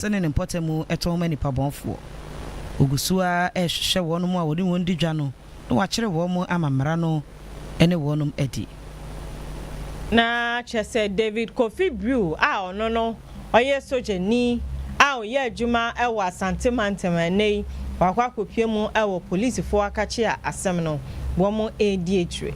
Ase ne ne mpɔtam tɔn ma nnipa bɔnfoɔ. Ɔgu so ara rehwehwɛ wɔnom a wɔne wɔn di dwa no na wakyere wɔn ama mmara no ne wɔnom adi. Na kyerɛ sɛ David Kofi Brew a ɔno no ɔyɛ sogyani a ɔyɛ adwuma wɔ Asante mantam a ɛnnɛ yi wakɔ akɔpue mu wɔ polisifoɔ akakyea asɛm no wɔn redi akyire.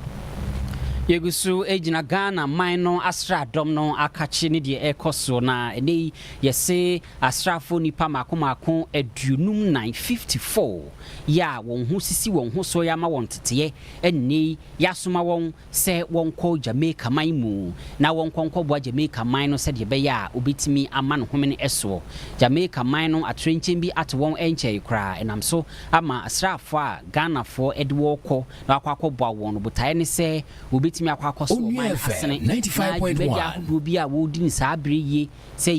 Yɛgu so gyina Ghana man no asraadɔm no akakye ne deɛ ɛrekɔ soɔ na ɛnnɛ yi Yɛse asraafo nnipa mmaako mmaako aduonum nnan, fifty four, yi a wɔn ho sisi wɔn ho so ama wɔn nteteɛ nnɛ yi, yɛasoma wɔn sɛ wɔnkɔ Jamaica man mu na wɔnkɔ nkɔboa Jamaica man no sɛdeɛ ɛbɛyɛ a wɔbɛtumi ama no homene ɛsoɔ. Jamaica man no atorenkyɛm bi ato wɔn ɛnkyɛe koraa, ɛnam so ama asraafoɔ a Ghanafoɔ ɛde wɔn rekɔ na wɔakɔ akɔboa wɔn no botaeɛ ne sɛ Wobetumi akɔ akɔso wɔ ɔman asene na dwumadi ahodoɔ bi a wɔredi no saa bere yi, sɛ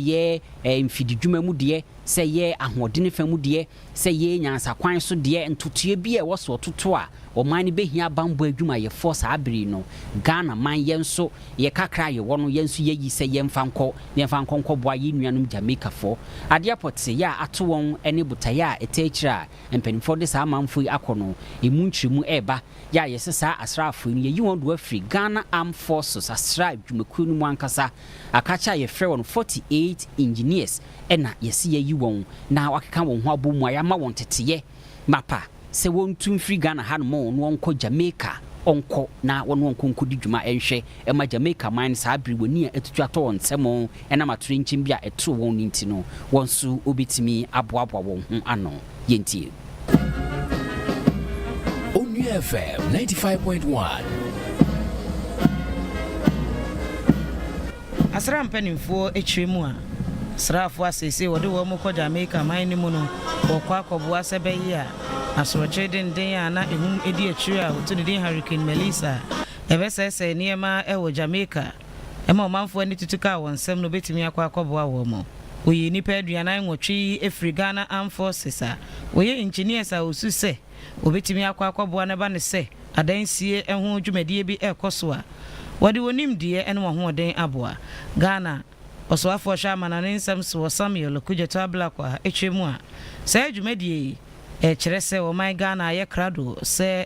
ɛyɛ mfididwuma mu deɛ, sɛ ɛyɛ ahoɔdene fa mu deɛ, sɛ ɛyɛ nyansakwan so deɛ, ntotoeɛ bi a ɛwɔ so ɔtoto a ɔman no bɛhia bammɔ adwumayɛfoɔ saa bere yi no, Ghana man yɛn nso yɛ kakra a yɛwɔ no yɛn nso yɛayi sɛ yɛmfa nkɔ, yɛmfa nkɔ nkɔboa yɛn nuanom Jamaicafoɔ. Adeɛ pɔtee a ato wɔn ne botaeɛ a ɛtaa akyire a mpanimfoɔ de saa amanfoɔ yi akɔ no, ɛmu nkyerɛmu reba, yɛ a yɛse saa asraafoɔ yi no yɛyi wɔn do afiri Ghana Armed Forces asraa adwumakuo no mu ankasa, akakyɛ a yɛfrɛ wɔn 48 Engineers na yɛse yɛayi wɔn na wɔakeka wɔn ho abom a yɛama wɔn teteyɛ mapa sɛ wɔntu mfiri Ghana hanom na wɔnkɔ Jamaica ɔnkɔ na wɔne wɔn nkɔ nkɔdi dwuma nhwɛ ɛma Jamaica man saa bere w'ani a atutu atɔ wɔn nsam ɛnam atoyerɛnkyɛm bi a ɛtoo wɔn no nti no, wɔn nso wobetumi aboaboa wɔn ho ano. Yɛntie. Onua FM ninety five point one. Asra mpanimfoɔ akyire mu a asraafoɔ a seesei wɔde wɔn rekɔ Jamaica man no mu no wɔkɔ akɔboa sɛ bɛyea asorɔkye denden a na ɛhum di akyire a wɔto no din Hurricane Melissa ɛbɛsɛesɛe nneɛma wɔ Jamaica ma ɔmanfo ani tutu kaa wɔn nsɛm no betumi akɔ akɔboa wɔn. Woyii nnipa aduanan nwɔtwe firii Ghana Armed Forces a wɔyɛ engineers a osu sɛ obetumi akɔ akɔboa no ba no sɛ adansie ho dwumadie bi rekɔ so a wɔde wɔn nimdeɛ ne wɔn ahoɔden aboa. Ghana Ɔsoafoɔ Ɔhwɛ Amanɔne Nsɛm Soɔ Samuel Okudzeto Ablakwa kyerɛ mu a, saa dwumadie yi kyerɛ sɛ wɔman Ghana ayɛ krado sɛ,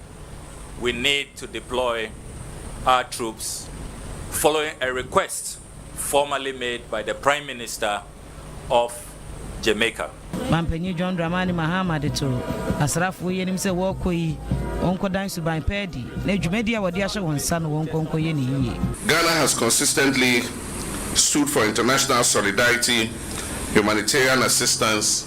we need to deploy our troops following a request formally made by the Prime Minister of Jamaica. Mampanyin John Dramani Mahama de to asrafoɔ yi anim sɛ wɔrekɔ yi, wɔnkɔdan suban pa adi na dwumadi a wɔde ahyɛ wɔn nsa no wɔnkɔ nkɔyɛ no yiye. Ghana has consistently stood for international solidarity, humanitarian assistance,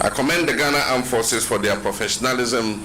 I commend the Ghana Armed Forces for their professionalism,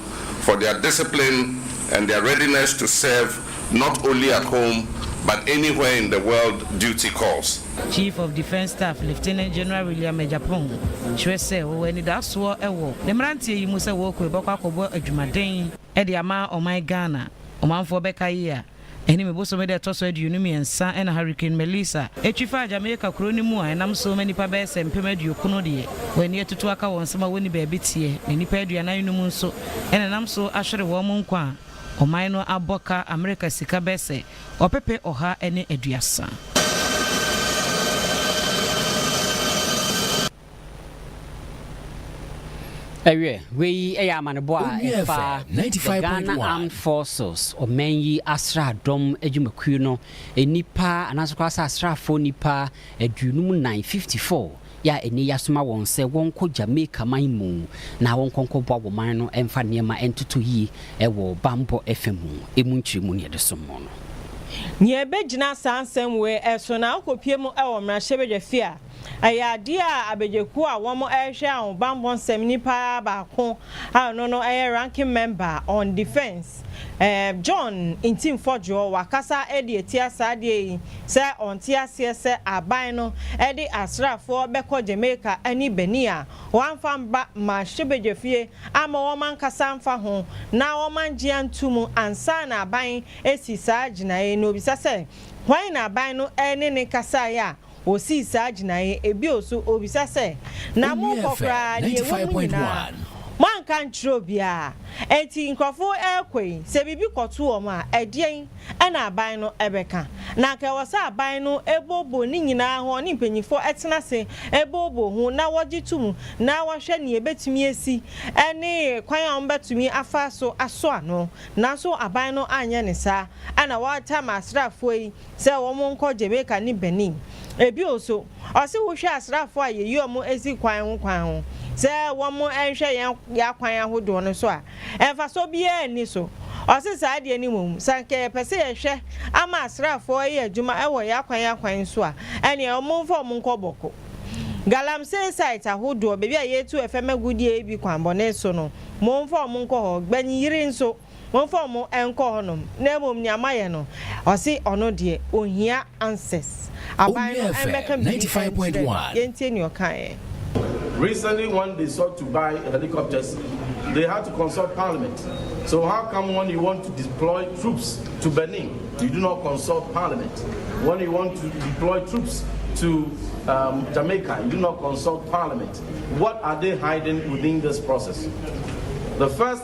for their discipline and their readiness to serve not only at home but anywhere in the world duty calls. Chief of Defence Staff Lieutenant General William Agyapong kyerɛ sɛ wɔwɔ anidasoɔ wɔ ne mmeranteɛ yi mu sɛ wɔɔkɔ rebɛkɔ akɔbɔ adwumaden de ama ɔman Ghana. Ɔmanfoɔ bɛkae a Ɛne me bosome da a ɛtɔ so aduonu mmiɛnsa na Hurricane Melissa twi faa Jamaica kuro no mu a ɛnam so ma nnipa bɛyɛ sɛ mpem aduokunu deɛ wɔn ani atutu aka wɔn nsam a wɔnni baabi teɛ na nnipa aduanan num nso na ɛnam so ahwere wɔn nkwa a ɔman no abɔ ka Amerika sika bɛyɛ sɛ ɔpepe ɔha ne aduasa. Ɛwiɛ, wei yɛ amanebɔ a ɛfa The Ghana Armed Forces, ɔman yi asraadɔm adwumakuo no nnipa anaasɛ koraa sɛ asraafoɔ nnipa aduonum nan, 54, a ɛnnɛ yi asoma wɔn sɛ wɔnkɔ Jamaica man mu na wɔnkɔ nkɔboa wɔn man no mfa nneɛma ntoto yie wɔ bammɔ fa mu. Emu nkyerɛ mu nea ɛde som wɔn no. Nea ebegyina saa nsɛm wei so na akopue mu wɔ mmarahyɛbadwafie a Ɛyɛ adeɛ a abɛgyekuo a wɔn rehwɛ ahobanbɔ nsɛm nipa baako a ɔno no yɛ Ranking Member on Defence ɛɛm John Ntimfɔdwoɔ wakasa de atia saa adeɛ yi sɛ ɔnte aseɛ sɛ aban no de asraafoɔ bɛkɔ Jamaica ne Benin a wɔamfa mma mmarahyɛbadwafie amma wɔn ankasa amfa ho na wɔn angye anto mu ansa na aban asi saa gyinaeɛ no obisa sɛ hwan na aban no ne no kasaeɛ a Wosii saa gyinae, ebio so obisa sɛ, Na monkɔ koraa, nea ɛwɔ mu nyinaa, moanka nkyerɛ obiara? Enti nkurɔfo rekɔ yi, sɛ biribi kɔto wɔn a, ɛdeɛn na aban no bɛka? Na anka ɛwɔ sɛ aban no booboo ne nyinaa ho, ɔne mpanimfoɔ tena ase booboo ho na wɔgye to mu na wɔhwɛ nea ɛbɛtumi asi ne kwan a wɔbɛtumi afa so aso ano. Nanso aban no anyɛ ne saa, ɛnna wɔatama asraafoɔ yi. sɛ wɔnkɔ Jamaica ne Benin. Bio nso, ɔse wohwɛ asraafo a yeyi wɔn si kwan ho kwan ho sɛ wɔnhwɛ yɛn akwan ahodoɔ no so a, mfasoɔ biara nni so. Ɔse saa deɛ no mmom, sɛ anka yɛpɛ sɛ yɛhwɛ ama asraafo yɛ adwuma wɔ yɛn akwan akwan so a, ɛneɛ wɔmfa wɔn nkɔ Bɔko, Galamsey site ahodoɔ, baabi a yɛtu ɛfɛm agudeɛ yi bi kwanbɔne so no, wɔmfa wɔn nkɔ hɔ. Gbannyiri nso. Momfa wɔn nkɔ hɔnom, na mmom nea mayɛ no, ɔse ɔno deɛ, ɔnhia answers. Aban no mmɛka biribi nkyerɛ no. Yɛntie nea ɔkaeɛ. Recently when they sought to buy helicopters they had to consult parliament so how come when you want to deploy troops to Benin you do not consult parliament when you want to deploy troops to um, Jamaica you do not consult parliament what are they hiding within this process the first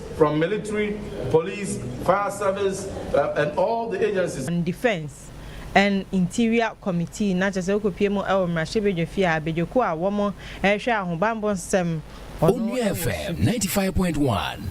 From military, police, fire service and all the agencies. And defence and interior committee na kyerɛ sɛ wokɔ pie mu wɔ mmarahyɛbadwa fie a badwakuo a wɔn ɛhwɛ ahobanbɔ nsɛm ɔno wɔ su.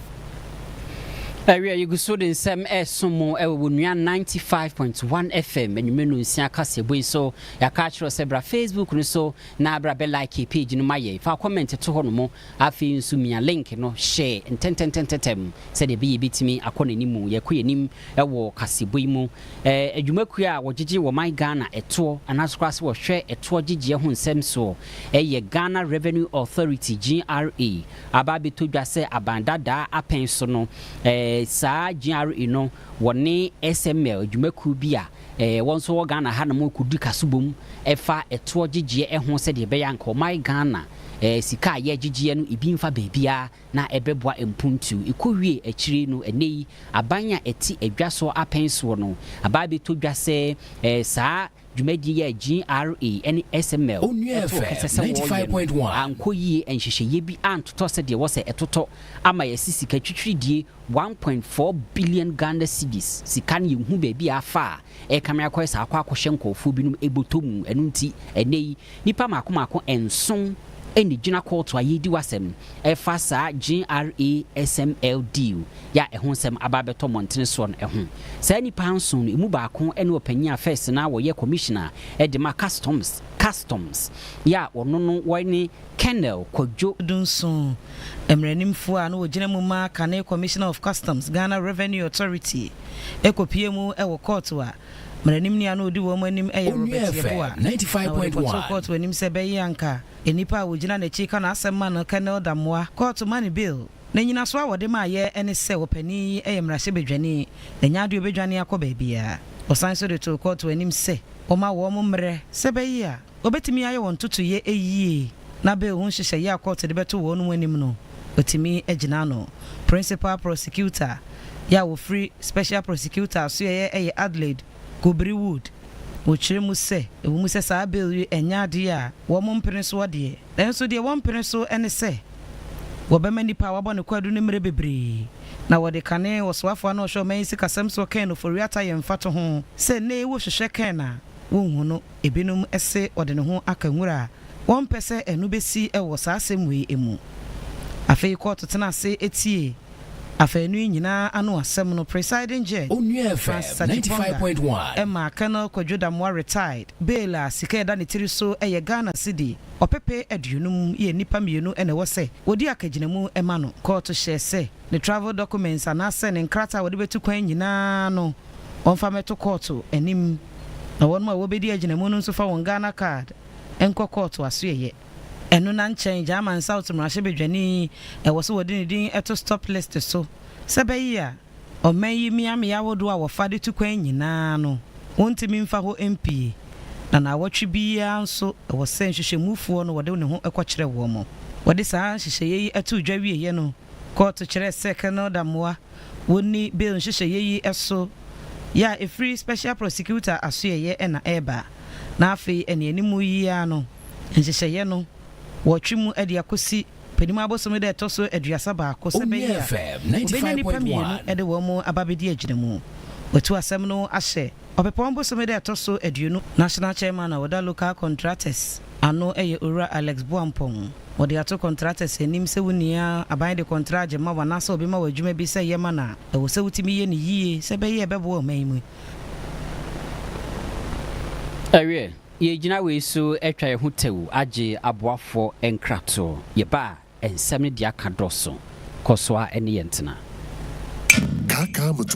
Ɛwia yɛgu so de nsɛm ɛreso mo wɔ wɔ nua ninety five point one FM anwummerɛ no nsia kaseɛbɔ yi so yɛaka akyerɛ sɛ bra Facebook no so na bra bɛ like page no ma yɛn fa comment to hɔ no mo Afei nso Mia Link no hyɛɛ ntɛntɛntɛntɛm sɛdeɛ ɛbɛyɛ yɛbɛtumi akɔ n'anim, yɛkɔ yɛn anim wɔ kaseɛbɔ yi mu. Adwumakuo a wɔgyegye wɔ ɔman Ghana ɛtoɔ anaasɛ koraa sɛ wɔhwɛ ɛtoɔ gyegyeɛ ho nsɛm soɔ yɛ Ghana Revenue Authority, GRA, aba abɛtɔ dwa sɛ aban dadaa apɛn so no saa GRA no wɔne SML adwumakuo bi a Wɔ nso wɔ Ghana ha nom kɔdi kaso bom fa toɔ gyegyeɛ ho sɛdeɛ ɛbɛyɛ a nka ɔman Ghana sika a yɛgyegyeɛ no ebi mfa baabiara na ɛbɛboa mpuntuo. Ɛkɔwie akyire no ɛnnɛ yi aban a ɛte adwa soɔ apɛn soɔ no aba abɛtɔ dwa sɛ saa dwumadie yi a GRA ne SML too kɛsɛ sɛ wɔyɛ no ankɔ yie, nhyehyɛeɛ bi antotɔ sɛdeɛ ɛwɔ sɛ ɛtotɔ ama yɛasi sika twitwiridie One point four billion Ghana cedis sika no yɛnhu baabi a afa a ɛrekame akɔyɛ saa akɔ akɔhyɛ nkorɔfoɔ binom bɔtɔ mu ɛno nti ɛnnɛ yi nnipa mako mako nson na ɛgyina kɔɔto a yɛredi w'asɛm ɛfa saa GRA SML deal yi a ɛho nsɛm aba abɛtɔ mmɔntene soɔ no ho. Saa nnipa nson no ɛmu baako ne ɔpanin a first no na ɔyɛ commissioner de ma customs customs yi a ɔno no wɔne Colonel Kwadwo Dunsun, mmaranimfoɔ a na ɔgyina mu ma kane Commissioner of Customs, Ghana Revenue Authority, kɔpuee mu wɔ kɔɔto a mmaranimni a na ɔdi wɔn anim yɛ Robert Yeboah, na wɔde kɔtoo kɔɔto anim sɛ bɛyɛ anka nnipa a wɔgyina n'akyi ka n'asɛm ma no Colonel Damoah kɔɔto ma no bail. Na nnyinasoɔ a wɔde maeɛ ne sɛ ɔpanin yi yɛ mmarahyɛbadwani, na ɛnyɛ adeɛ a ɔbɛdwane akɔ baabiara. Wɔsan nso de too kɔɔto anim sɛ wɔma wɔn mmerɛ sɛ bɛyɛ a. Obetumi ayɛ wɔn ntotoeɛ yie na bail ho nhyehyɛeɛ a kɔɔto de bɛto wɔnom anim no, watumi agyina ano. Principal Prosecutor yi a ɔfiri Special Prosecutor asoɛeɛ yɛ Adelaide Kobiri Wood. Ɔkyerɛ mu sɛ, ɛwɔ mu sɛ saa bail yi nyɛ adeɛ a wɔmpene soɔ deɛ, nanso deɛ wɔmpene so ne sɛ wɔbɛma nipa a wabɔ ne kwadu no mmerɛ bebree na wɔde kane ɔsoafoɔ no a ɔhwɛ ɔman yi sikasɛm soɔ Ken Ofori-Atta yɛ mfatoho sɛ nnɛ yi wohwehwɛ Ken a, wonhu no. Ebinom se ɔde ne ho aka nwura a wɔmpɛ sɛ ɛno besi wɔ saa asɛm wei mu. Afei kɔɔto tena ase tiee afaanu yi nyinaa ano asɛm no. Presiding Judge Onua FM ninety five point one. maa Colonel Kwadwo Damoah Retired bail a sika a ɛda ne tiri so yɛ Ghana cedi ɔpepe aduonum yɛ nnipa mmienu na ɛwɔ sɛ wɔdi akagyinamu ma no. Kɔɔto hyɛɛ sɛ. Ne travel documents anaasɛ ne nkrataa a wɔde bɛtu kwan nyinaa no ɔmfa mmɛto kɔɔto anim, na wɔnom a wɔbɛdi agyinamu no nso fa wɔn Ghana card nkɔ kɔɔto asoɛeɛ. Ɛno na nkyɛn German South mmarahyɛbadwani ɛwɔ sɛ wɔde ne din to stop list so sɛ ɛbɛye a ɔman yi mmeammea ahodoɔ a wɔfa de tu kwan nyinaa no wɔntumi mfa hɔ mpue, na naawɔtwe biara nso ɛwɔ sɛ nhwehwɛmufoɔ no wɔde ne ho kɔkyerɛ wɔn. Wɔde saa nhyehyɛeɛ yi too dwa wieɛ no, Kɔɔto kyerɛɛ sɛ Colonel Damoah wɔnni bail nhyehyɛeɛ yi so yɛ a ɛfiri Special Prosecutor asoɛeɛ na ɛreba na afei anianimu yi ara no nhyehyɛeɛ no wɔretwe mu de akɔsi panim abosome da a ɛtɔ so aduasa baako sɛ ɛbɛyɛ a wɔbɛnya nnipa mmienu de wɔn aba abɛdi agyinamu. Watu asɛm no ahyɛ. Ɔpɛpɔn bosome da a ɛtɔ so aduonu, National Chairman a ɔda Local Contractors ano yɛ Owura Alex Boampong. Wɔde ato contractors anim sɛ wo nua aban de kɔntraa gyema wo anaasɛ ɔbema wo adwuma bi sɛ yɛ ma no a, ɛwɔ sɛ wotumi yɛ no yie sɛ ɛbɛyɛ a ɛbɛboa ɔman yi mu. Ɛwiɛ, yɛgyina wei so atwa yɛn ho tɛwu agye aboafoɔ nkratoɔ. Yɛba a, nsɛm no deɛ aka dɔɔso. Kɔ so ara ne yɛn tena. Kaakaamotoɔ.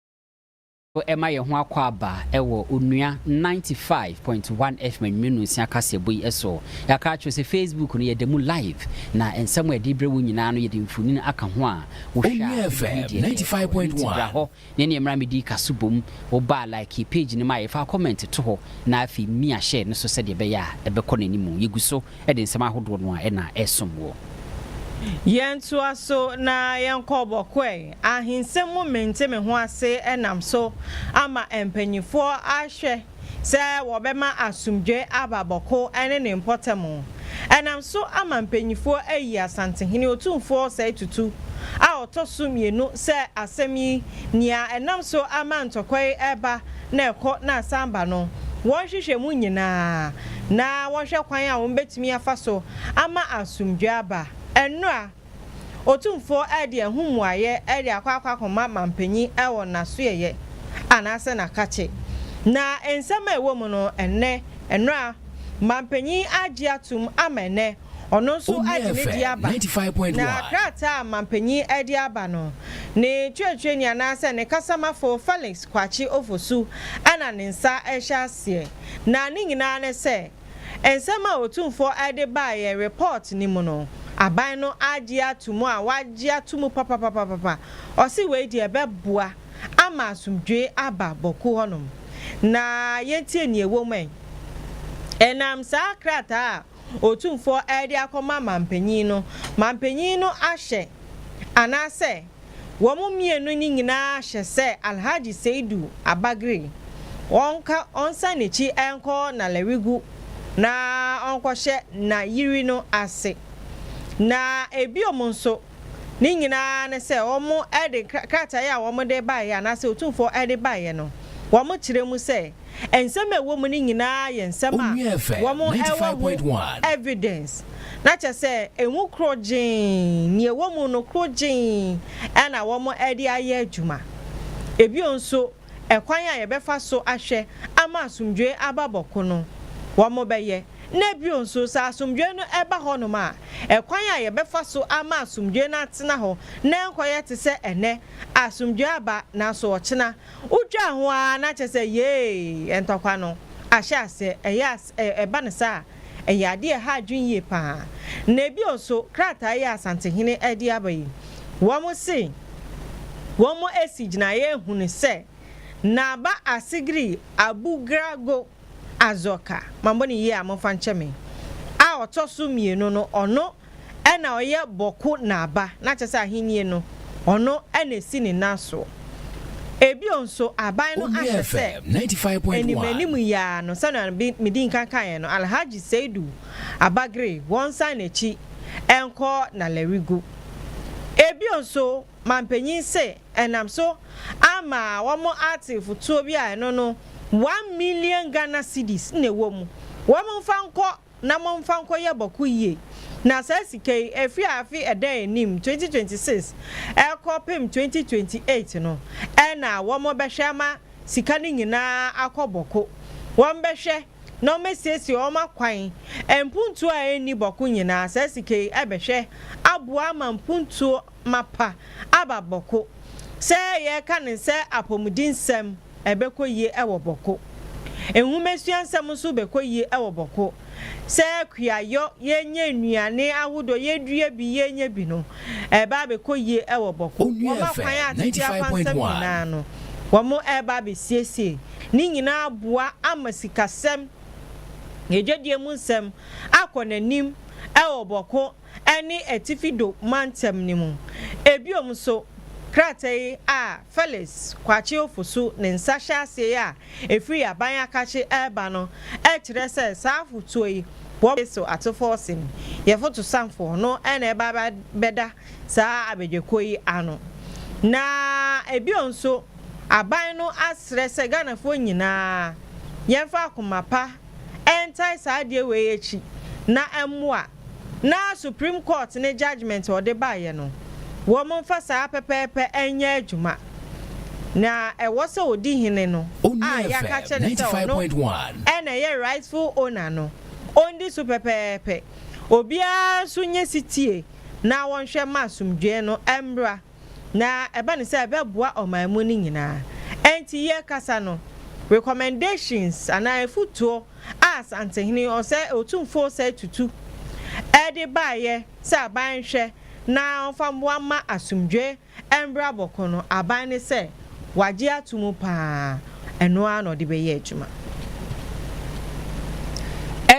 So ɛma yɛn ho akwaaba wɔ Onua ninety five point one FM Anwummere Nsia kaseɛbɔ yi so? Yɛaka akyerɛ wo sɛ Facebook no yɛda mu live, na nsɛm a yɛde rebrɛ wo nyinaa no yɛde mfonini aka ho a wohwɛ a wobɛhu deɛ ɛrekɔ. Ɛno nti bra hɔ na ɛneɛ mmra mmɛdi kaso bom. Woba a like page no ma yɛ, fa comment to hɔ na afei mia share no so sɛdeɛ ɛbɛyɛ a ɛbɛkɔ n'anim. Yɛgu so. de nsɛm ahodoɔ no a na ɛsom woɔ. Yɛntoa so na yɛnkɔ bɔkɔɛ ahensɛm mu mente me ho ase nam so ama mpanimfoɔ ahwɛ sɛ wɔbɛma asomdwoe aba bɔkɔ ne ne mpɔtam ɛnam so ama mpanimfoɔ ayi Asantehene Otumfoɔ Osei Tutu a ɔtɔ so mmienu sɛ asɛm yi nea ɛnam so ama ntɔkwa yi reba na ɛkɔ na asan ba no, wɔnhwehwɛ mu nyinaa na wɔnhwɛ kwan a wɔbetumi afa so ama asomdwoe aba. Ɛnnora, Otumfoɔ de ɛho mmuaeɛ de akɔ akɔma mampanyin wɔ n'asoɛeɛ anaasɛ n'akakye. Na nsɛm a ɛwɔ mu no, ɛnnɛ, ɛnnora, mampanyin agye atom ama ɛnnɛ. Ɔno nso agye ne di aba. Na krataa a mampanyin de aba no, ne kyerɛkyerɛni anaasɛ ne kasamafo Felix Kwakye Ofosu na ne nsa rehyɛ aseɛ. Na ne nyinaa ne sɛ, nsɛm a Otumfoɔ de baa yɛn report no mu no, aban no agye ato mu a wɔagye ato mu papapapapa. Ɔse wei deɛ ɛbɛboa ama asomdwoe aba Bawku hɔnom. Na yɛntie nea ɛwɔ mu ɛ. Ɛnam saa krataa a Otumfoɔ de akɔma mampanyin no, mampanyin no ahyɛ anaasɛ wɔn mmienu no nyinaa ahyɛ sɛ Alhaji Seidu Abagri ɔnka ɔnsan n'akyi nkɔ Nalerigu na ɔnkɔhyɛ n'ayiri no ase. Na ebiom nso. Ne nyinaa ne sɛ wɔde krataa yi a wɔde baeɛ anaasɛ Otumfoɔ de baeɛ no, wɔkyerɛ mu sɛ nsɛm a ɛwɔ mu no nyinaa yɛ nsɛm a wɔwɔ ho evidence. Na kyerɛ sɛ emu korɔgyee, nea ɛwɔ mu no korɔgyee na wɔde ayɛ adwuma. Bio nso. ɛkwan a yɛbɛfa so ahwɛ ama asomdwoe aba bɔko no, wɔbɛyɛ, na bio nso sɛ asomdwoe no ba hɔnom a, ɛkwan a yɛbɛfa so ama asomdwoe no atena hɔ na ɛnkɔyɛ te sɛ ɛnnɛ, asomdwoe aba nanso ɔkyena wotwaa ho ara na kyerɛ sɛ, yee, ntɔkwa no ahyɛ aseɛ, ɛyɛ as ɛba no saa a. Ɛyɛ ade a ɛha adwene yie pa ara. Na bio nso, krataa yi a Asantehene de aba yi, wɔse wɔasi gyinaeɛ hunu sɛ Naba Asigiri Abugrago Azoka, mammɔ no yie a momfa nkyɛ me, a ɔtɔ so mmienu no, ɔno, Ɛna ɔyɛ bɔko naaba na kyerɛ sɛ ahennie no ɔno ɛna esi ne nan soɔ. Ebio nso aban no ahwɛ sɛ animanim yi ara no sɛnea me dii nkan kaeɛ no Alhaji Seidu Abagre wɔnsan n'akyi nkɔ Nalerigu. Ebio nso manpanyin se ɛnam so ama wɔn ate fotuo bi a ɛno no one million Ghana cedis na ɛwɔ mu wɔn nfa nkɔ na momfa nkɔyɛ bɔko yie na saa sika yi ɛfiri afe ɛda yɛn anim 2026 ɛrekɔ pem 2028 no ɛna wɔn bɛhwɛ ama sika no nyinaa akɔ bɔko wɔn bɛhwɛ na wɔn asiesie wɔn akwan mpuntuo a ɛnni bɔko nyinaa saa sika yi ɛbɛhwɛ aboa ama mpuntuo mapa aba Bɔko. Sɛ yɛreka no sɛ apɔmudensɛm, ɛbɛkɔ yie wɔ Bɔko. Nwomasua nsɛm nso bɛkɔ yie wɔ Bɔko. Sɛ kuayɔ, yɛnyɛ nnuane ahodoɔ, yɛdua bi, yɛnyɛ bi no, ɛreba abɛkɔ yie wɔ Bɔko. Wɔn akwan a tete akwansɛm nyinaa no, wɔreba abɛsiesie ne nyinaa aboa ama sikasɛm, adwadie mu nsɛm akɔ n'anim wɔ Bɔko. ne Atifi Do mantam no mu. Bio nso, krataa yi a Felix Kwakye Ofosu ne nsa hyɛ aseɛ yi a ɛfiri Aban Akakye reba no kyerɛ sɛ saa afotuo yi wɔ bere so atofɔɔ sen yɛfotosanfoɔ no na ɛba bɛda saa abadwakuo yi ano. Na bio nso, Aban no asrɛ sɛ Ghanafoɔ nyinaa yɛmfa akoma pa ntae saa adeɛ wei akyi na ɛmmoa. Na supreme court ne judgement a ɔde baeɛ no, wɔmfa saa pɛpɛɛpɛ nyɛ adwuma. Na ɛwɔ sɛ ɔdi hene no a yɛaka akyerɛ no sɛ ɔno na ɛyɛ rightful owner no, ɔndi so pɛpɛɛpɛ. Obiara nso nyɛ setie na wɔnhwɛ mma asomdwoeɛ no mmra. na ɛba no sɛ ɛbɛboa ɔman mu no nyinaa. Ɛnti yɛrekasa no, recommendations anaa afutuo a Asantehene ɔsɛe Otumfuo ɔsɛe Tutu de baeɛ sɛ aban nhwɛ na ɔmfa mmoa mma asomdwoeɛ mmra Bɔko no, aban no sɛ, Wagye ato mu paa, ɛno ara na ɔde bɛyɛ adwuma.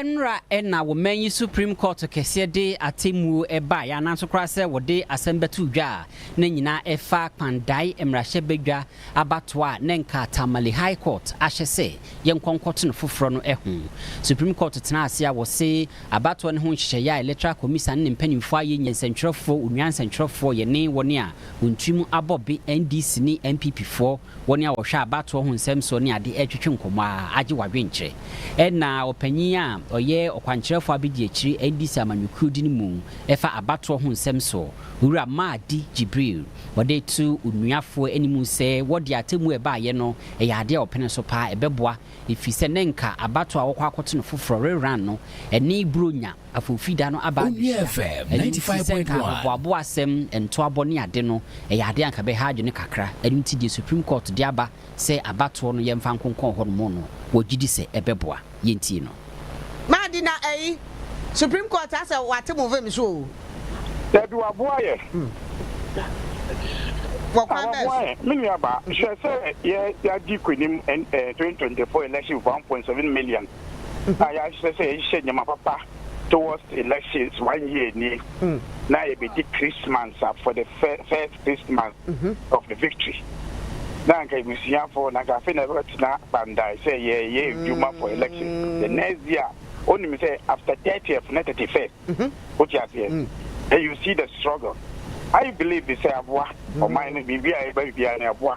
Ɛnnora na wo man yi Supreme Court kɛseɛ de atemmuo baeɛ anaa nso koraa sɛ wɔde asɛm bɛto dwa a na nyinaa ɛfa Kpan Dae mmarahyɛbadwa abatoɔ a na nka Tamale High Court ahyɛ sɛ yɛnkɔ nkɔto no foforɔ no ho. Supreme Court tenaa ase a wɔse abatoɔ no ho nhyehyɛeɛ a Electoral Commisan ne ne mpanimfoɔ ayɛ nyɛ nsɛntwerɛfoɔ, onua nsɛntwerɛfoɔ, yɛne wɔn a Wɔn tirim abɔ be NDC ne NPP foɔ wɔn a wɔhwɛ abatoɔ ho nsɛm soɔ ne ade retwetwe nkɔmmɔ ara agye w'adwenkyerɛ. Ɛna ɔpanyin a ɔyɛ ɔkwankyerɛfoɔ abedi akyire NDC amanyɔkuo din mu fa abatoɔ ho nsɛm soɔ, Owura Mahdi Jibril, ɔde reto onuafoɔ anim sɛ wɔ deɛ atemmuo a ɛbaeɛ no ɛyɛ adeɛ a ɔpene so paa ɛbɛboa ɛfiri sɛ nɛ nka abatoɔ a wɔkɔ akɔto no foforɔ reran no ɛne Buronya Afo Fida no aba abehyia. Onua FM Ɛno nti, sɛ 95.1. nka ahoboaboa asɛm, ntoabɔ ne ade no, ɛyɛ ade a anka ɛbɛha adwene kakra. Ɛno nti, deɛ Supreme Court de aba sɛ abatoɔ no yɛmfa nkonkɔn hɔnom no, wɔgye di sɛ ɛbɛboa. Yɛntie no. Maadi na ɛyi Supreme Court asɛ wate mo vim so o. Dabi waboa yɛ. Wɔ kwan bɛɛ Waboa so. yɛn. Me nua baa, hwɛ sɛ yɛ yɛadi kuanim ɛn ɛɛ twenty twenty four election one point seven million. a yɛahyehyɛ sɛ yɛhyehyɛ nneɛma papa towards elections one year ni na yɛbɛdi Christmas a for the first Christmas of the victory na anka abusuafo na anka afei na ɛbɛtena bandae sɛ yɛyɛ adwuma for elections the next year wonim sɛ after 30th na 31st wote aseɛ and you see the struggle I believe sɛ aboa ɔman no biribi a ɛba biribiara no ɛboa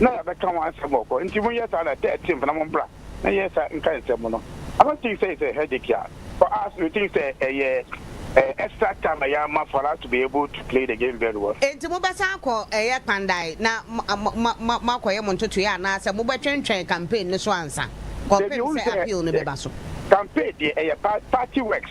na yɛabɛka ho asɛm wɔ hɔ, enti monyɛ saa na thirteenth na mombra na yɛn nsa nka nsɛm no. I don't think sɛ it's a headache a for us, me think sɛ ɛyɛ extra time a yɛama for us to be able to play the game very well. Enti mobɛsan akɔ ɛyɛ Kpandae na moakɔyɛ mo ntotoeɛ anaasɛ mobɛtwentwɛn campaign no so ansa kɔpem sɛ appeal no bɛba so? Campaign deɛ ɛyɛ party works.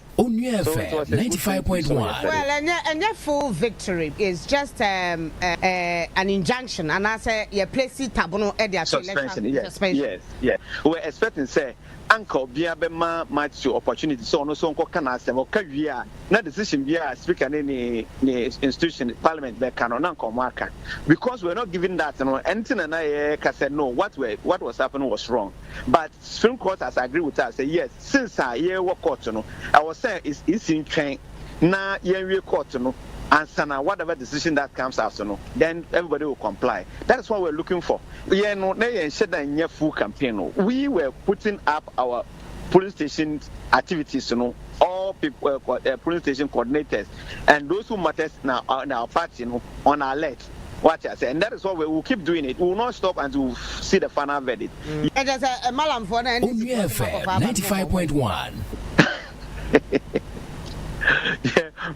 Onua FM 95.1. Well ɛnyɛ ɛnyɛ full victory is just um, uh, uh, an injunction anaasɛ yɛ plesi tabono ɛde ato election suspension yes suspension. yes yes we were expecting sɛ anka obiara bɛma Matthew opportunity sɛ ɔno nso nkɔka n'asɛm ɔka wie a na decision bi a speaker ne ne ne institution parliament bɛka no na nka ɔmo aka because we were not given that no ɛnti na na yɛka sɛ no what were what was happening was wrong but Supreme court has agreed with us sɛ yes since a yɛwɔ court no ɛwɔ sɛ EC ntwɛn na yɛnwie court no ansana whatever decision that comes out no then everybody will comply that is what we are looking for. Yɛn no na yɛn hyɛ da nyɛ full campaign no we were putting up our polling station activities no all people uh, polling station coordinators and those who matters na uh, our party no on alert Wate aseɛ? And that is what we will keep doing it. We will not stop until we see the final verdict. Mm. Ɛkyɛ sɛ eh, malamfoɔ na ɛne sukuu ɔde ma kɔfa aba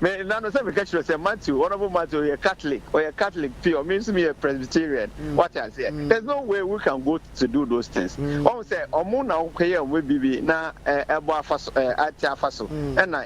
me nano sɛ meka kyerɛ sɛ matthew honorable matthew ɔyɛ catholic ɔyɛ catholic pure me nso meyɛ presbyterian mm. wate aseɛ mm. there's no way we can go to do those things ɔhu sɛ ɔmo na wokɔyɛ ɔmo bibi na ɛbɔ afa so ɛte afa so ɛna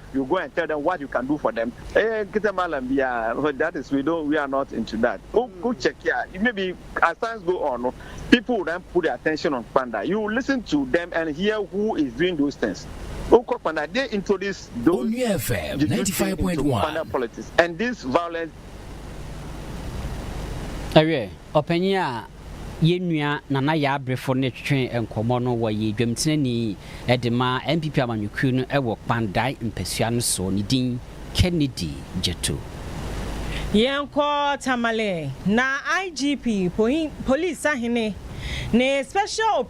you go and tell them what you can do for them eh nkete malam biara that is we don't we are not into that o o check ya maybe as times go on no people will then put their attention on kpanda you listen to them and hear who is doing those things o kɔ kpanda they introduce those Onua FM ninety five point one kpanda politics and this violence. Ɛwɛ Ɔpanyin a yɛn nua Nana Yaa Brifo ne twetwee nkɔmmɔ no wɔ yɛ dwam tena ni de ma NPP amanyɔkuo no wɔ Kpandae mpasua no so. Ne din, Kennedy Gyatu. Yɛnkɔ Tamale na IGP, Police Sahene, ne Special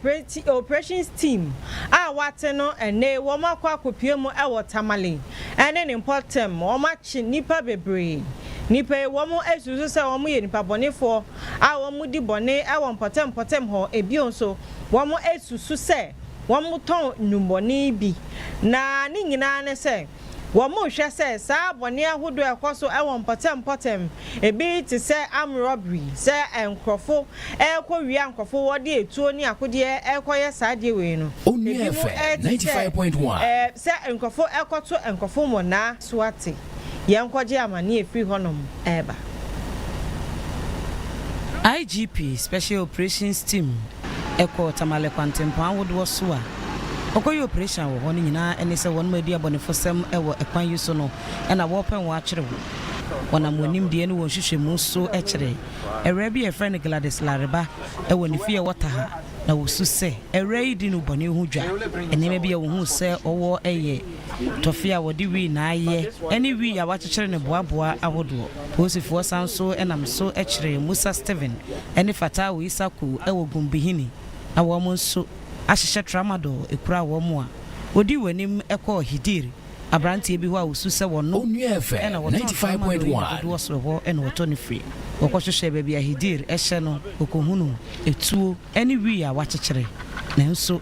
Operations Team a wɔate no ɛnne wɔakɔ akɔpue mu wɔ Tamale ne ne mpɔtam, wɔakye nnipa bebree. Nnipa yi, wɔasusu sɛ wɔyɛ nnipa bɔnefoɔ a wɔdi bɔne wɔ mpɔtam-mpɔtam hɔ. Bio nso, wɔasusu sɛ wɔtɔn nnwummɔne bi. Na ne nyinaa ne sɛ, wɔhwɛ sɛ saa bɔne ahodoɔ a ɛkɔ so wɔ mpɔtam-mpɔtam, ebi te sɛ armed robbery, sɛ nkorɔfo rekɔwia nkorɔfo, wɔde atuo ne akodeɛ rekɔyɛ saa adeɛ wei no, ebinom te sɛ sɛ nkorɔfo rekɔto nkorɔfo mmonnaa. so ate yɛnkɔgye amane ɛfiri hɔnom reba. IGP Special Operations Team kɔ Tamale kwantempɔn ahodoɔ so a wɔkɔyɛ operation wɔ hɔ no nyinaa ne sɛ wɔnom adi abɔnefosɛm wɔ ɛkwan yi so no na wɔpɛ wɔn atwere wɔn. Wɔnam wɔn nimdeɛ ne wɔn nhwehwɛmu so kyere awuraa bi a yɛfrɛ no Gladys Lareba wɔ ne fie a ɛwɔ Taha na wɔsu sɛ awuraa yi di no bɔne ho dwa. Nneɛma bi a wɔhuu sɛ ɔwɔ yɛ. Tɔfe a wɔde wii na ayɛ ne wii a wɔakyekyere no boaboa ahodoɔ. Posifoɔ san nso nam so kyeree Musa Stephen ne Fatawu Issa Kow wɔ Gumbihini na wɔn nso ahyehyɛ Tramadol kuraa wɔn a wɔdii wɔn anim kɔɔ Hidir, aberanteɛ bi hɔ a wɔsu sɛ wɔno na wɔtɔn Tramadol yi na dodoɔ soro hɔ na wɔtɔ no firi. Wɔkɔhwehwɛɛ baabi a Hidir hyɛ no, wɔkɔhunuu atuo ne wii a wɔakyekyere nanso.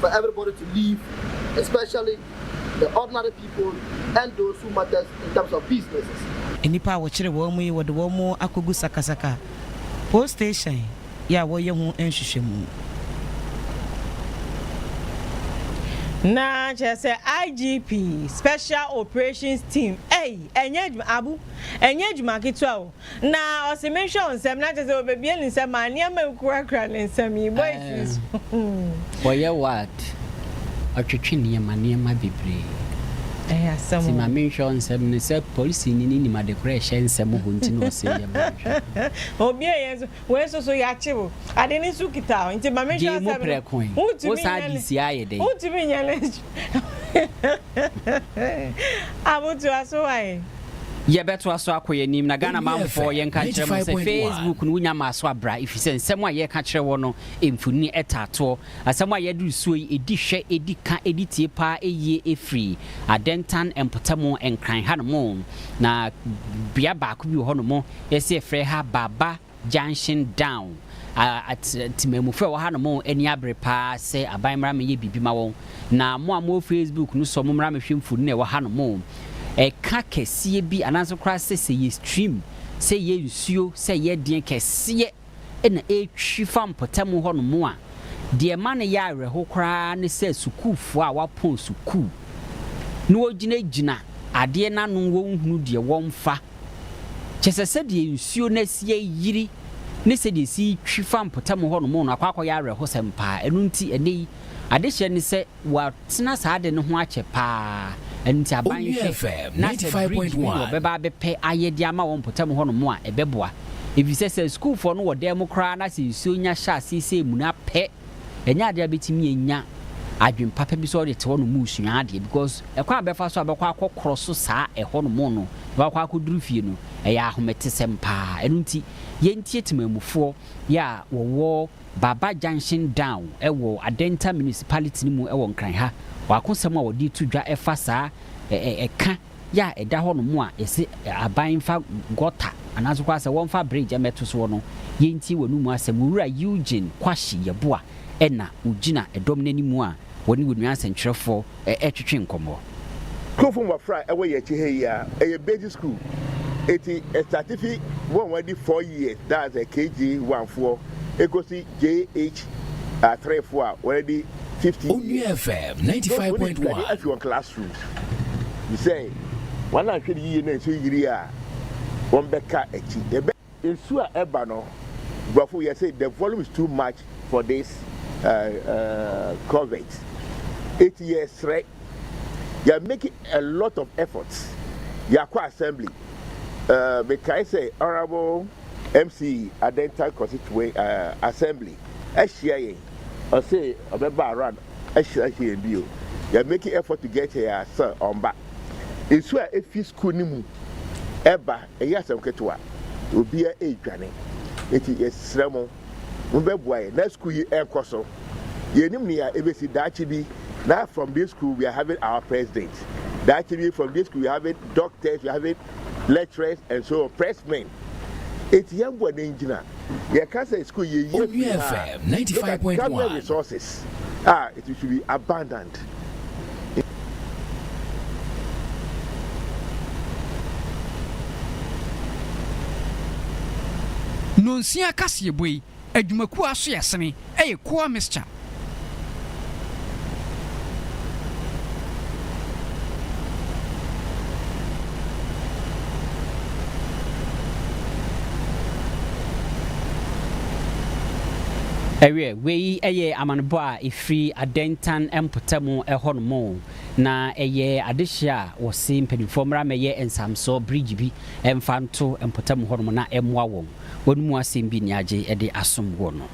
for everybody to live especially the ordinary people and those who matters in terms of businesses. Nnipa a wɔkyere wɔn yi wɔde wɔn akɔgu sakasaka post station yi a wɔreyɛ ho nhwehwɛmu. Na kyerɛ sɛ IGP, Special Operations Team, ei, ɛnyɛ adwuma, Abu, ɛnyɛ adwuma ketewa o. Na ɔse menhwɛ wo nsɛm na kyɛsɛ ɔbɛbie ne nsɛm maa nneɛma a ɛkurakura ne nsɛm yi bɔ ɛtiri so. Ɔyɛ what? Ɔtwetwe nneɛma nneɛma bebree. Ɛyɛ asɛm o. Nti ma menhwɛ wo nsɛm no sɛ polisini no nim adekorɔ a ɛhyɛ nsɛm hɔ nti na ɔse yɛ ma menhwɛ wo. Ɔbie yɛ nso wei nso so yɛakye wo ade no nso kita wo nti ma menhwɛ asɛm no. Gyee mu prɛko yi wo saa ade sie ayɛ dɛn. Wontumi nyɛ no. Abotoa so wae. Yɛbɛtoa so akɔ yɛn anim na Ghana manfoɔ yɛn nka nkyerɛ mo sɛ Facebook no wo nya maa so abra ɛfiri sɛ nsɛm a yɛka kyerɛ wɔ no mfonini ɛtaa toɔ asɛm a yɛde resuo yi ɛdi hwɛ ɛdi ka ɛdi tie paa ɛyie ɛfiri Adentan mpɔtamu Nkran ha no mo na bea baako bi wɔ hɔ no mo yɛsɛ yɛfrɛ ha Baba Junction Down a temammufo a ɛwɔ hanom ani abere paa sɛ aban mmra mmɛyɛ biribi mma wɔn. Na mo a mowɔ Facebook no sɔ mommra mmɛhwɛ mfoni a ɛwɔ hanom. Ɛka kɛseɛ bi anaasɛ koraa sɛ sɛ ɛyɛ stream, sɛ ɛyɛ nsuo, sɛ ɛyɛ ɛdeɛn kɛseɛ na ɛretwi fa mpɔtam hɔnom a, deɛ ɛma no yɛ awerɛho koraa ne sɛ sukuufoɔ a wɔapɔn sukuu na wɔgyinagyina adeɛ no ano wɔnhunu deɛ wɔmfa. Kyerɛ sɛ, sɛdeɛ nsuo no asi ayiri ne sɛdeɛ ɛsi twi fa mpɔtam hɔnom no akɔ akɔyɛ awerɛhosɛm pa ara. Ɛno nti, ɛnnɛ yi, adehyeɛ ne sɛ wɔatena saa ade no ho akyɛ pa ara. Ɛno nti, aban nhwɛ na sɛ bridge bi na wɔbɛba abɛpɛ ayɛ de ama wɔn mpɔtam hɔnom a, ɛbɛboa. Ɛfiri sɛ, sɛ asukuufoɔ no wɔ dan mu koraa na sɛ nsuo nya hyɛ aseɛ sɛ amuna pɛ, ɛnyɛ adeɛ a bɛtumi anya adwene papa bi sɛ ɔde te hɔnom resua adeɛ because ɛkwan a bɛfa so a bɛkɔ akɔ korɔ so saa ɛhɔnom no na wakɔ akɔduru fie no ɛyɛ ahometesɛm paa ɛno nti yɛntie temamufoɔ yɛ a wɔwɔ Baba Junction Down ɛwɔ Adenta Municipality no mu ɛwɔ Nkran ha wɔakosɛm a wɔde to dwa ɛfa saa ɛka yɛ a ɛda hɔnom a ɛse aban mfa gɔta anaase koraa sɛ wɔmfa bridge mmɛto soɔ no, yɛntie w'anomu asɛm. Owura Eugene Kwashi Yeboah na ɔgyina dɔm no anim a wɔne wo nua nsɛnkyerɛfoɔ ɛretwetwe nkɔmmɔ. Kurofo mmɔfra a ɛwɔ yɛn akyi ha yi a, ɛyɛ basic school. Enti ɛstate fi wɔn a wɔadi four years, that's KG1 foɔ, ɛkɔsi JH3 foɔ a wɔadi fifty. Onua FM ninety five point one. Nkurɔfoɔ de sika de asi wɔn class rooms. Bisɛ wɔn a nhwɛ no yiye na nsuo yiri a wɔn bɛ ka akyi. Ɛbɛ. Nsuo a ɛba no, nkurɔfoɔ yɛ sɛ the volume is too much for this culvert. Eti yɛ srɛ, yɛ are making a lot of efforts. Yɛ akɔ assembly. Me kae sɛ honourable MC Adenta Kɔsi Twue assembly ɛhyia yɛn. Ɔse ɔbɛba around ahyira hɛn bio. Yɛ making effort to get here a still ɔmmba. Nsu a efi skuul no mu reba nnyɛ asɛm ketsewa. Obiara redwane. Ntsi yɛserɛ mo, mobɛboa yɛn na skuul yi nkɔ so. Yennyim nea ebesi daakye bi na from this school we are having our president, daakye bi from this school we are having doctors, we are having. lecturers and so on press men eti yɛn bɔ den gyina yɛ ka sɛ school yɛ yie fi ha look at government resources a ah, it should be abundant. Nonsia kaseɛbɔ yi Adwumakuo a aso yɛ sene yɛ Coa Mixture. Ɛwieɛ, wei yɛ amanebɔ a ɛfiri Adentan mpɔtamu hɔ nom, na ɛyɛ adehyeɛ a wɔse mpaninfoɔ mmra mmɛyɛ nsamsoɔ bridge bi mfa nto mpɔtamu hɔ nom na ɛmmoa wɔn. Wɔn mu asɛm bi nni agye de asom wɔ no.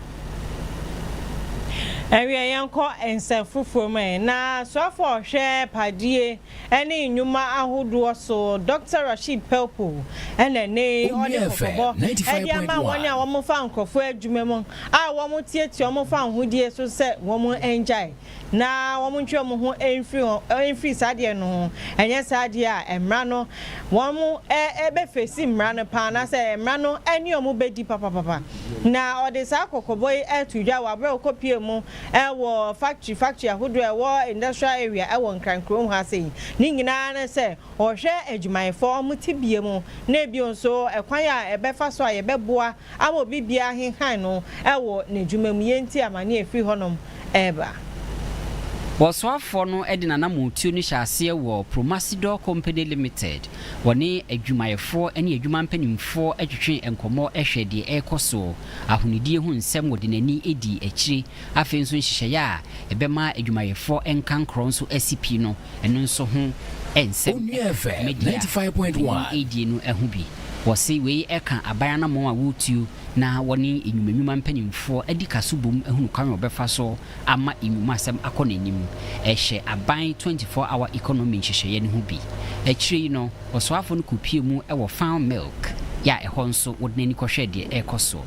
Ɛnweɛ yɛnkɔ nsɛm foforɔ mu ɛ. Na soafo a ɔhwɛ padie ne nnwuma ahodoɔ so Dɔkta Rasheed Pelpo na ɛnɛ yi ɔde kɔkɔbɔ de ama wɔn a wɔfa nkorɔfoɔ adwuma mu a wɔtiatia wɔn fa ahodie so sɛ wɔn ngyae. na wɔntwe wɔn ho mfiri ho, mfiri saa adeɛ no ho, ɛnyɛ saa deɛ a mmara no, wɔn ɛ, bɛ face mmara no paa, anaasɛ mmara no ɛne wɔn bɛdi papapapa. Na ɔde saa kɔkɔbɔ yi ɛto dwa wɔ aberɛ a ɔkɔpie mu ɛwɔ factory factory ahodoɔ a ɛwɔ industrial area ɛwɔ Nkran kurom ha sei. Ne nyinaa ne sɛ ɔhwɛ adwumayɛfoɔ wɔn tebea mu, na bio nso ɛkwan a ɛbɛfa so a yɛbɛboa ama obi biara ahenhan no wɔ n'adwuma mu, yei nti amane a ɛfiri hɔnom reba. Ɔsoafoɔ no de n'anammɔntuo no hyɛɛ aseɛ wɔ Promasidor Company Limited, wɔne adwumayɛfoɔ ne adwuma mpanimfoɔ twetwee nkɔmmɔ hwɛɛ deɛ ɛrekɔ soɔ, ahonidie ho nsɛm wɔde n'ani dii akyire Afei nso nhyehyɛeɛ a ɛbɛma adwumayɛfoɔ nkankorɔ nso asi pi no, ɛno nso ho nsɛm Onua ka. FM Dwumadi a ninety five point ɔpanin one. redie no ho bi. Wɔse wei ka aban anammɔn a wɔretuo na wɔne nnwuma nnwuma mpanimfoɔ adi ka so bom ahunu kwan a wɔbɛfa so ama nnwumasɛm akɔ n'anim. Ɛhyɛ aban twenty four hour economy nhyehyɛeɛ no ho bi. Akyire yi no, ɔsoafoɔ no kɔpue mu wɔ Farm Milk a ɛhɔ nso wɔde n'ani kɔhwɛɛ deɛ ɛrekɔ so.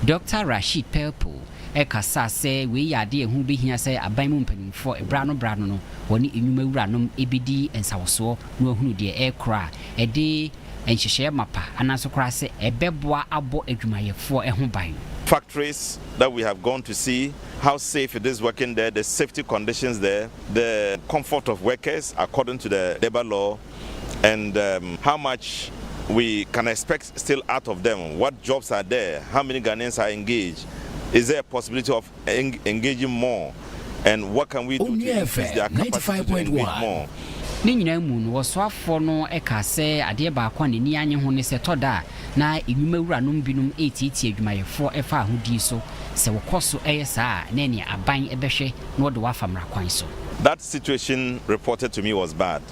Dɔkta Rasheed Pelpo. Ɛkasa sɛ wei yɛ ade a ɛho bɛhia sɛ aban mu mpanimfoɔ berɛ ano berɛ ano no wɔne nnwuma wuranom bɛdi nsawɔsoɔ na wɔahunu deɛ ɛrekora a ɛde nhyehyɛeɛ mapa anaa nso koraa sɛ ɛbɛboa abɔ adwumayɛfoɔ ho ban. factories that we have gone to see how safe it is working there, the safety conditions there, the comfort of workers according to the labour law and how much we can expect. still out of them what jobs are there how many Ghanaians are engaged is there a possibility of engaging more and what can we do to increase their capacity to engage more. Ne nyinaa mu no, ɔsoafoɔ no kaa sɛ adeɛ baako a n'ani annye ho ne sɛ ɛtɔ da a na nnwuma wuranom binom retiatia adwumayɛfoɔ ɛfa ahodie so. Sɛ wokɔ so yɛ saa a, na ɛneɛ aban bɛhwɛ na wɔde wo afa mmara kwan so. That situation reported to me was bad.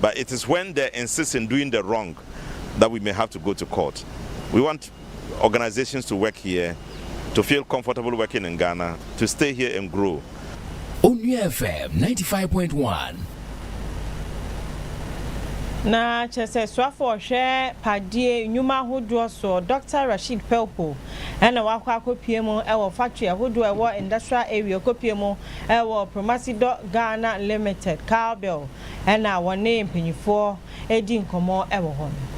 But it is when they insist in doing the wrong that we may have to go to court. We want organisations to work here, to feel comfortable working in Ghana, to stay here and grow. Onua FM ninety five point one. Na kyerɛ sɛ soafo a ɔhwɛ padeɛ nnwuma ahodoɔ soɔ, Dɔkta Rasheed Pelpo, na wakɔ akɔpue mu wɔ factory ahodoɔ a ɛwɔ Industrial Area Kɔpue mu wɔ Promasidor Ghana Limited, Cowbell, na wɔne mpanyimfoɔ redi nkɔmmɔ wɔ hɔ no.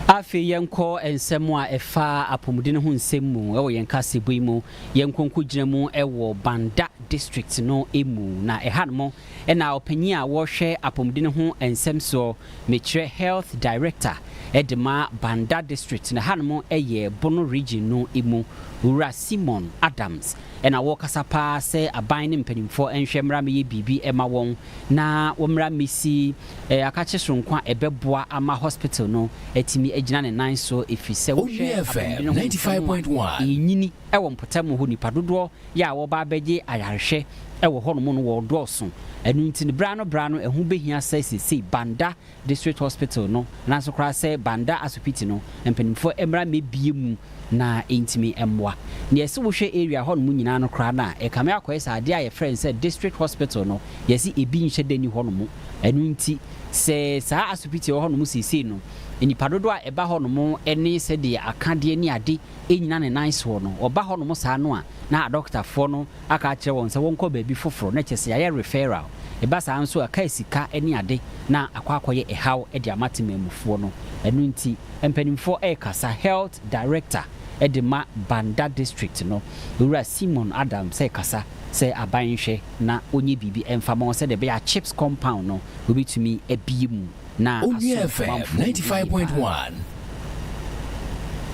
Afei yɛnkɔ nsɛm a ɛfa apɔmuden ho nsɛm mu wɔ yɛn kaseɛbɔ yi mu. Yɛnkɔ nkɔgyina mu wɔ Banda District no mu. Na ɛhanom na ɔpanyin a ɔrehwɛ apɔmuden ho nsɛm soɔ, mekyerɛ Health Director de ma Banda District, na ɛhanom yɛ Bono Region no mu, Owura Simon Adams na wɔkasa paa sɛ aban ne mpanimfoɔ nhwɛ mmra mmɛyɛ biribi mma wɔn na wɔmmra mmɛsi Akakye Soronko a ɛbɛboa ama hospital no atumi agyina ne nan so ɛfiri sɛ wohwɛ Abomdene ho nsɛm a ɛrenyini wɔ mpɔtam hɔ nnipa dodoɔ yɛ a wɔreba abɛgye ayarehwɛ wɔ hɔnom no wɔredɔɔso ɛno nti no berɛ ano berɛ ano ɛho bɛhia sɛ seisei Banda District Hospital no nanso koraa sɛ Banda Asopiti no mpaninfoɔ mmra mmɛbie mu na ɛntumi mmoa. Na yɛse wohwɛ area hɔ nom nyinaa no koraa no a ɛkame akɔyɛ sɛ adeɛ a yɛfrɛ no sɛ District Hospital no yɛse ɛbi nhyɛ da nni hɔ nom. Ɛno nti sɛ saa Asopiti a ɛwɔ hɔ nom seesei no nnipa dodoɔ a ɛba hɔ nom ne sɛdeɛ akadeɛ ne ade nnyina ne nan soɔ no, ɔba hɔnom saa no a, na adɔkotafoɔ no aka akyerɛ wɔn sɛ wɔnkɔ baabi foforɔ, na kyerɛ sɛ yɛayɛ referral. Ɛba saa nso a, ɛkae sika ne ade na akɔ akɔyɛ ɛhaw de ama temanmufoɔ no. Ɛno nti, mpanimfoɔ rekasa, Health Director de ma Banda District no, Owura Simon Adams rekasa sɛ aban nhwɛ na wɔnyɛ biribi mfa ma wɔn sɛdeɛ ɛbɛyɛ a Chips Compound no wɔbɛtumi abue mu. na Onua FM 95.1.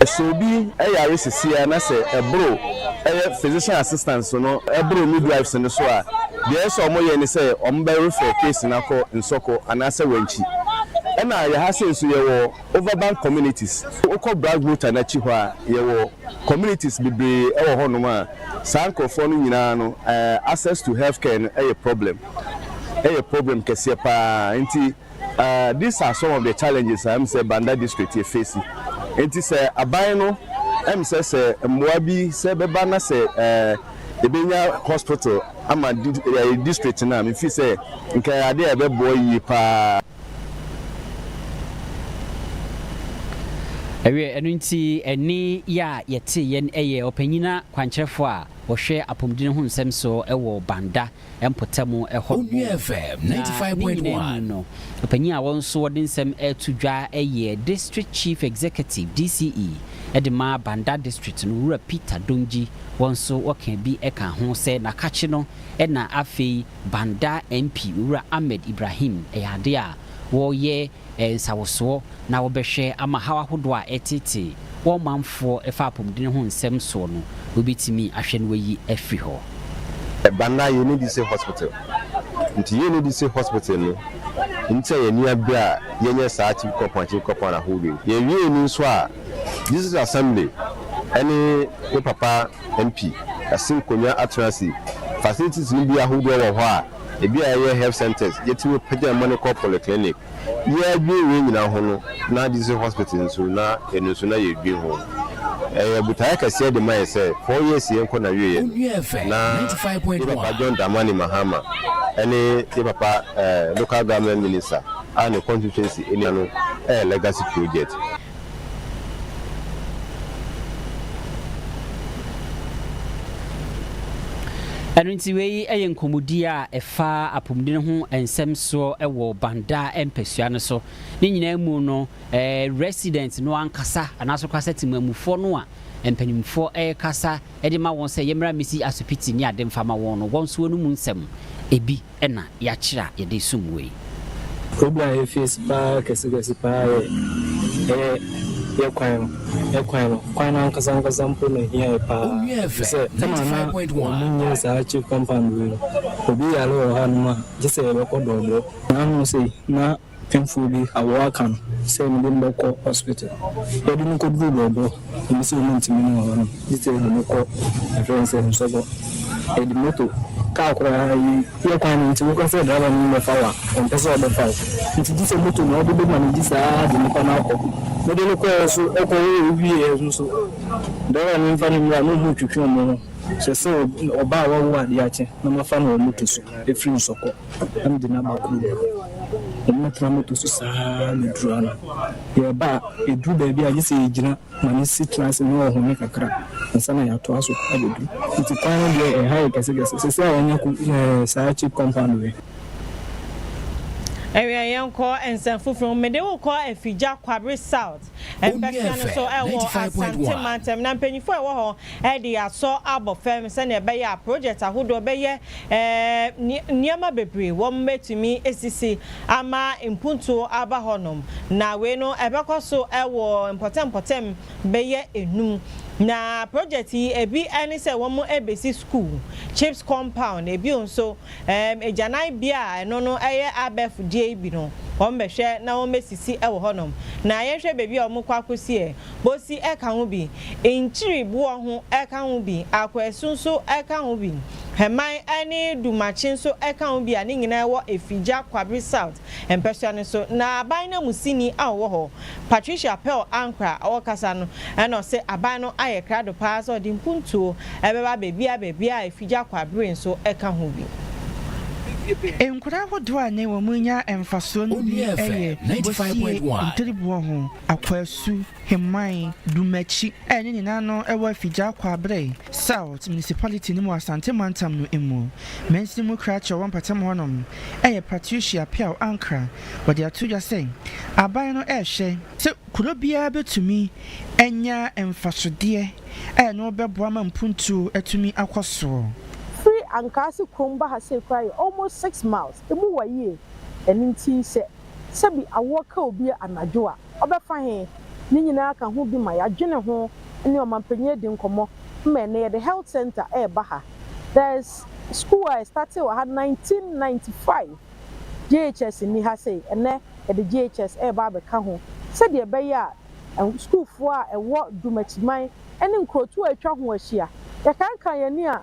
Sɛ obi yare sesei ara na sɛ ɛboro ɛyɛ physician assistant so no ɛboro midwives no so a, deɛ ɛyɛ sɛ wɔyɛ ne sɛ wɔbɛ refer case no akɔ Nsɔkɔ anaasɛ Wankyi. Ɛna yɛha sei nso yɛwɔ Overbank communities. Wokɔ Brasbota no akyi hɔ a, yɛwɔ communities bebree wɔ hɔnom a saa nkorɔfoɔ no nyinaa no access to healthcare no yɛ problem. ɛyɛ problem kɛseɛ paa nti ahh these are some of the challenges a ɛm sɛ Banda district yɛ face nti sɛ aban no ɛm sɛ sɛ mmoa bi sɛ bɛba na sɛ ɛɛ yɛbɛnya hospital ama ɛɛ district no a me fi sɛ nka ɛyɛ adeɛ a ɛbɛboa yie paa. Ɛwieɛ ɛno nti ɛnne yi a yɛteeɛ no ɛyɛ ɔpanyina kwankyerɛfoɔ a ɔhwɛ apɔmuden ho nsɛm soɔ wɔ Banda. mpɔtam hɔ no mu. Na ne nyinaa mu no, ɔpanyin a wɔn so wɔde nsɛm reto dwa yɛ District Chief Executive, DCE, de ma Banda District no, Wura Peter Dongyi, wɔn so wɔka bi ka ho sɛ n'akakye no na afei Banda MP Wura Ahmed Ibrahim yɛ ade a wɔyɛ nsawosoɔ na wɔbɛhwɛ ama haw ahodoɔ a ɛreteetee wɔn manfoɔ ɛfa apɔmuden ho nsɛm soɔ no, wɔbɛtumi ahwɛ na wɔayi afiri hɔ. Banda yɛ ne dise hospital nti yɛ ne dise hospital no nti a yɛ ani abere a yɛ nyɛ saa chief kɔpɔn chief kɔpɔn ahodoɔ yi yɛ wie ni nso a district assembly ɛne me papa MP Asim Konnya Atrasi facilities no bi ahodoɔ wɔ hɔ a Ebi a yɛyɛ health centres, yɛtumi pagya mma no kɔ polyclinic. Yɛadwene wei nyinaa ho no, na district hospital nso, na ɛno nso na yɛredwene ho. Ɛyɛ botaeɛ kɛseɛ de ma yɛn sɛ, four years yei nkɔ n'awieeɛ, na yɛn papa John Dramani Mahama ne yɛn papa local government minister a ne constituency nni ano yɛ legacy project. Ɛno nti wei yɛ nkɔmmɔdie a ɛfa apɔmuden ho nsɛm soɔ wɔ Banda mpasua no so. Ne nyinaa mu no, resident no ankasa anaasɛ koraa sɛ temamufoɔ no a mpanimfoɔ rekasa de ma wɔn sɛ yɛmmra mmɛsi asopiti ne ade mfa ma wɔn no, wɔn nso wɔn mu nsɛm bi. na yɛakyerɛ a yɛde resom wei? Problem a yɛfeesi paa kɛsekɛse paa yɛ ɛyɛ yɛ kwan no. Yɛ kwan no, kwan no ankasa ankasa mpo na ehia yɛ paa efisɛ ɛna na wɔnyɛ saa chip compound wei no. Obi yare wɔ hanom a, gye sɛ yɛbɛkɔ dɔɔdɔɔ. Nanom sei, na Mfew bi awɔw aka no sɛ mede no bɛkɔ hospital. Yɛde no kɔduruu Bɔɔbɔ, ɔmo sɛ ɔmo ntumi no wɔ hɔ no, gye sɛ yɛde no kɔ yɛfrɛ no sɛ Nsɔgɔ. Yɛde moto, kaa koraa yi yɛ kwan no nti woka sɛ driver no mmɛfa wo a, ɔmpɛ sɛ ɔbɛfa wo. Nti gye sɛ moto na wode bɛma no de saa ara de nnipa no akɔ. Mede no kɔeɛ nso, ɔkɔwee wieɛ nso, driver no mfa no mmra na ɔmo ntwetwe ɔmo ho. Hyɛ sɛ ɔbaa a wawu adeɛ akye na mafa no wɔ moto so afiri Nsɔkɔ. na mede no aba kurom. Wɔbɛtra moto so saa ara bɛduru ano. Yɛreba a, ɛduru baabi a gye sɛ yɛgyina ma no si tena ase na ɔhome kakra ansa na yɛatoa so abɛduru. Nti kwan no deɛ ɛha yɛ kɛsekɛse. Seesei a yɛanya eh, saa cheap compound wei. Ɛwia yɛnkɔ nsɛm foforɔ mu. Mede wo kɔ Afigya, Kwabre South. Mpɛsua no so ɛwɔ Asante mantam na mpanyinfoɔ a ɛwɔ hɔ ɛde asɔ abɔ fam sɛnea ɛbɛyɛ a project ahodoɔ bɛyɛ Ɛɛ, nneɛma bebree wom betumi asisi ama mpuntuo aba hɔnom, na wei no ɛbɛkɔ so wɔ mpɔtam-mpɔtam bɛyɛ nnum. Na project yi, ebi ne sɛ wɔbesi sukuu, CHPS compound, ebio nso, ɛɛ, agyananbea a ɛno no yɛ abɛɛfo deɛ yi bi no, wɔbɛhwɛ na wɔbesisi wɔ hɔnom. Na yɛnhwɛ baabi a wɔkɔ akɔsi ɛ, Bosi ka ho bi, Nkyiri boɔ ho ka ho bi, Akwasu nso ka ho bi, Hɛman ne Dumakye nso ka ho bi a ne nyinaa wɔ Afigya Kwabere South mpɛsoa no so. Na aban nanmusini a ɔwɔ hɔ, Patricia Pearl Ankrah a ɔrekasa no na ɔse aban no ayɛ krado pa ara sɛ ɔde mpuntuo bɛba baabiara baabiara a Afigya Kwabere nso ka ho bi. Nkura ahodoɔ a ne wɔn nya mfasoɔ no bi yɛ bosie, ntiri boɔ ho. Akwasu, Heman, Dumakyi a ne nyinaa no wɔ Afigya Akwaberɛ South Municipality no mu wɔ Asante Mantam no mu. Mansin mu krakye a ɔwɔ mpɔtam hɔnom yɛ Patricia Piaw Ankra. Wɔde ato dwa sɛ aban no rehwɛ sɛ kuro biara bɛtumi anya mfasodeɛ a ɛno bɛboa ma mpuntuo atumi akɔ soɔ. Firi Ankaase kurom ba ha sei koraa yɛ almost six miles. Emu wɔ yie. Ɛno nti sɛ sɛ bi awoɔ ka obi anadwo a, ɔbɛfa he? Ne nyinaa ka ho bi ma yɛadwene ho ne ɔmanpanyin adi nkɔmmɔ ma ɛnnɛ yɛde Health Centre reba ha. There's school a ɛstate wɔ ha 1995, JHS nni ha sei, ɛnnɛ yɛde JHS reba abɛka ho sɛdeɛ ɛbɛyɛ a sukuufoɔ a ɛwɔ Dwumakyiman ne nkurotoɔ a atwa ho ahyia, yɛkankan yɛn ani a,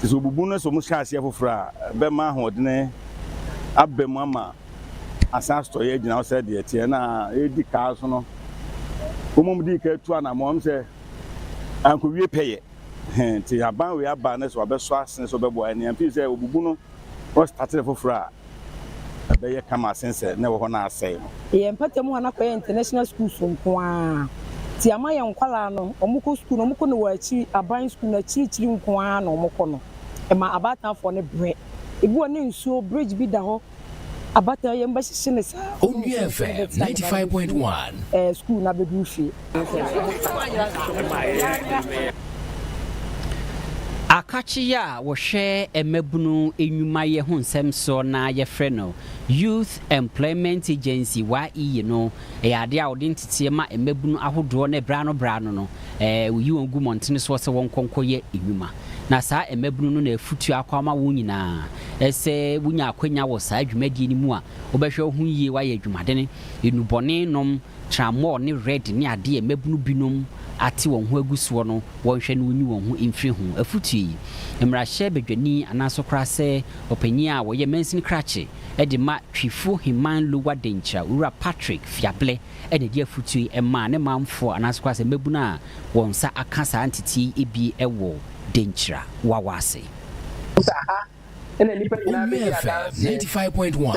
Te sɛ obubu no sɛ wɔhyɛ aseɛ foforɔ a, ɛbɛma ahoɔdene aba mu ama asan asotɔeɛ agyina hɔ sɛ deɛ ɛteɛ. Na ɛredi kaa so no, wɔmmom dii kan tu anammɔn. Ɛwom sɛ ankowie pɛyɛ he, te haban wei aba ne sɛ wabɛsɔ asene sɛ ɔbɛboa yɛn ne yɛn. Firi sɛ obubu no, wɔstate no foforɔ a, ɛbɛyɛ kama sen sɛ na ɛwɔ hɔ na asɛe no. Yɛn mpata mu a na kɔyɛ international schools nko ara nti ama yɛn nkwadaa no wɔn kɔ school no wɔn kɔ no wɔ akyiri aban school no akyiri kyiri nko ara na wɔn kɔ no ɛma abaatanfoɔ no brɛ ebi wɔ ne nsuo bridge bi da hɔ abatan yɛn bɛhyehye no saa. Onua fm ninety five point one. School no abɛduru fie. Akakye a wɔhwɛ mmabunu nnwumayɛ ho nsɛm soɔ no a yɛfrɛ no Youth Employment Agency, YEA, no yɛ adeɛ a wɔde nteteɛ ma mmabunu ahodoɔ na berɛ ano berɛ ano no wɔyi wɔn gu mmɔntene soɔ sɛ wɔnkɔ nkɔyɛ nnwuma. Na saa mmabunu no na afutuo akɔ ama wɔn nyinaa sɛ wonya akwanya wɔ saa dwumadie no mu a wobɛhwɛ wo ho yie, woayɛ adwumadene, nnubɔne nom, Trammɔɔ ne Red ne adeɛ a mmabunu binom ate wɔn ho agu soɔ no wɔnhwɛ na wɔnyi wɔn ho mfiri ho. Afotuo yi, mmarahyɛ badwani anaasɛ koraa sɛ ɔpanin a ɔyɛ mansini krakye de ma Twifo Heman Lower Denkyira Owura Patrick Fiablɛ na ɛde afotuo yi maa ne manfoɔ anaasɛ koraa sɛ mmabunu a wɔn nsa aka saa nteteɛ yi bi wɔ Denkyira Wawa ase. Woyɛɛ fɛ ninety five point one.